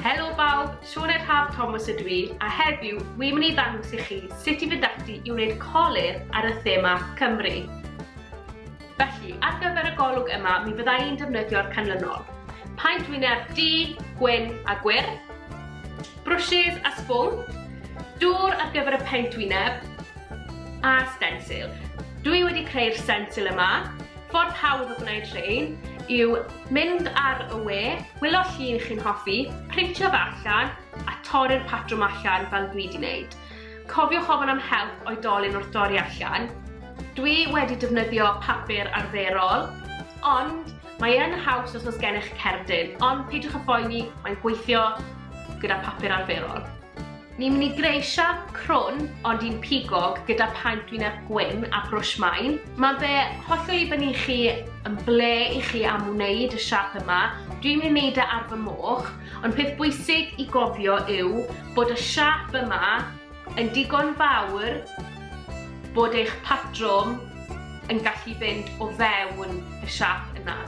Helo bawb, Siôn Eich Haf Thomas ydw i, a heddiw wi'n mynd i ddangos i chi sut i fynd ati i wneud colir ar y thema Cymru. Felly, ar gyfer y golwg yma, mi fydda i'n defnyddio'r canlynol. Paent wyneb du, gwyn a gwyrdd, brwsys a sbwng, dŵr ar gyfer y paent wyneb, a stensil. Dwi wedi creu'r stensil yma, Ffordd hawdd o gwneud rhein yw mynd ar y we, wylio llun chi'n hoffi, printio fe allan a torri'r patrwm allan fel dwi wedi wneud. Cofiwch ofyn am help oedolyn wrth dorri allan. Dwi wedi defnyddio papur arferol, ond mae yn haws os oes gennych cerdyn, ond peidiwch â phoeni, mae'n gweithio gyda papur arferol. Ni'n mynd i greu siap crwn, ond un pigog, gyda paent wyneb gwyn a brwsh main. Mae fe hollol i fyny i chi yn ble i chi am wneud y siap yma. Dwi'n mynd i wneud e ar fy moch, ond peth bwysig i gofio yw bod y siap yma yn digon fawr bod eich patrwm yn gallu fynd o fewn y siap yna.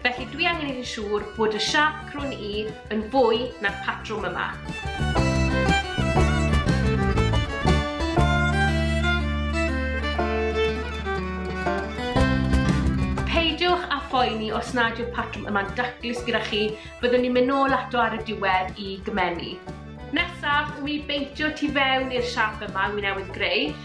Felly dwi angen i'n siŵr bod y siâp crwn i yn fwy na'r patrwm yma. phoeni os nad yw'r patrwm yma'n daclus gyda chi, byddwn ni'n mynd nôl ato ar y diwedd i gymennu. Nesaf, wi beintio tu fewn i'r siap yma, wi newydd greu,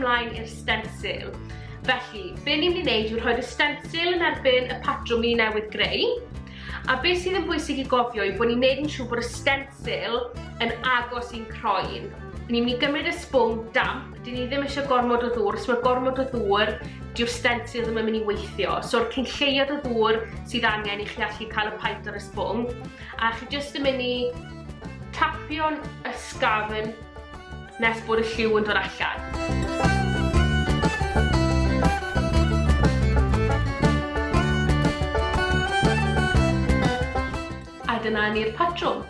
ymlaen i'r stensil. Felly, be ni'n mynd i wneud yw rhoi'r stensil yn erbyn y patrwm i newydd greu, a beth sydd yn bwysig i gofio yw bod ni'n neud yn siŵr bod y stensil yn agos i'n croen. Ni'n mynd i gymryd y sbwng damp Dyn ni ddim eisiau gormod o ddŵr, os mae gormod o ddŵr, diw'r stencil ddim yn mynd i weithio. So'r cyn lleiad o ddŵr sydd angen i chi allu cael y paent ar y sbwng, a chi jyst yn mynd i tapio'n ysgafn nes bod y lliw yn dod allan. A dyna ni'r patrwm.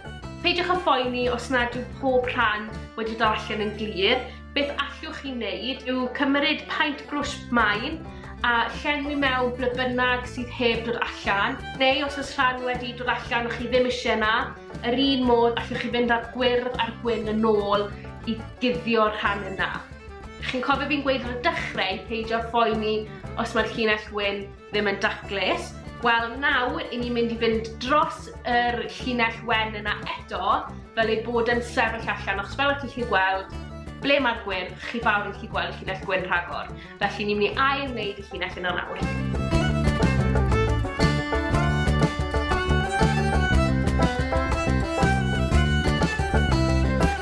Peidiwch â phoeni os nad yw pob rhan wedi dod allan yn glir. Beth allwch chi wneud yw cymryd paent brwsh main a llenwi mewn ble bynnag sydd heb dod allan, neu os oes rhan wedi dod allan o'ch chi ddim eisiau yna, yr un modd allwch chi fynd â'r gwyrdd a'r gwyn yn ôl i guddio'r rhan yna. Chi'n cofio fi'n gweud ar y dechrau peidio phoeni os mae'r llinell gwyn ddim yn daclus. Wel, nawr i ni'n mynd i fynd dros yr llinell wen yna eto, fel ei bod yn sefyll allan, achos fel y chi'n chi gweld, ble mae'r gwyn, chi fawr yn chi gweld y llinell gwyn rhagor. Felly ni'n mynd i ail wneud y llinell yna nawr.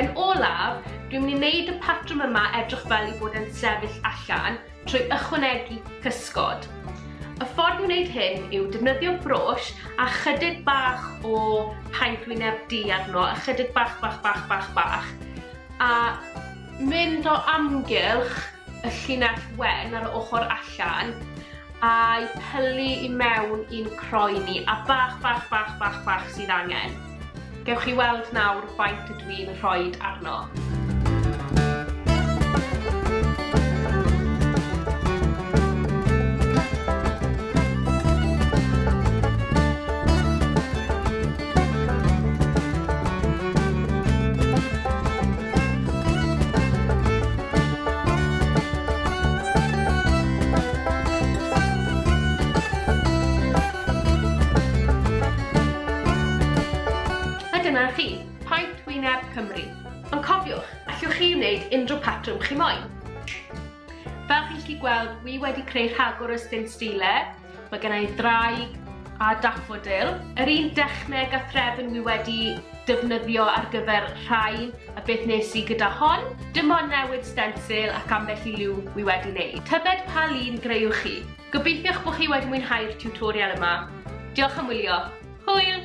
Yn olaf, dwi'n mynd i wneud y patrwm yma edrych fel i fod yn sefyll allan trwy ychwanegu cysgod. Y ffordd i wneud hyn yw defnyddio brwsh a chydig bach o paent wyneb du arno, a chydig bach, bach, bach, bach, bach, a mynd o amgylch y llinell wen ar ochr allan a'i pylu i mewn i'n croen ni a bach bach bach bach bach sydd angen. Gewch chi weld nawr faint ydw i'n rhoi arno. Dyna chi, Paent Wyneb Cymru. Ond cofiwch, allwch chi wneud unrhyw patrwm chi moyn. Fel chi'n gallu gweld, wi wedi creu rhagor o stint sdile, Mae gen i ddraig a daffodil. Yr un dechneg a threfn wi wedi defnyddio ar gyfer rhain a beth nes i gyda hon. Dim ond newid stensil ac ambell i liw wi wedi wneud. Tybed pa lun greuwch chi? Gobeithiwch bod chi wedi mwynhau'r tiwtorial yma. Diolch am wylio. Hwyl!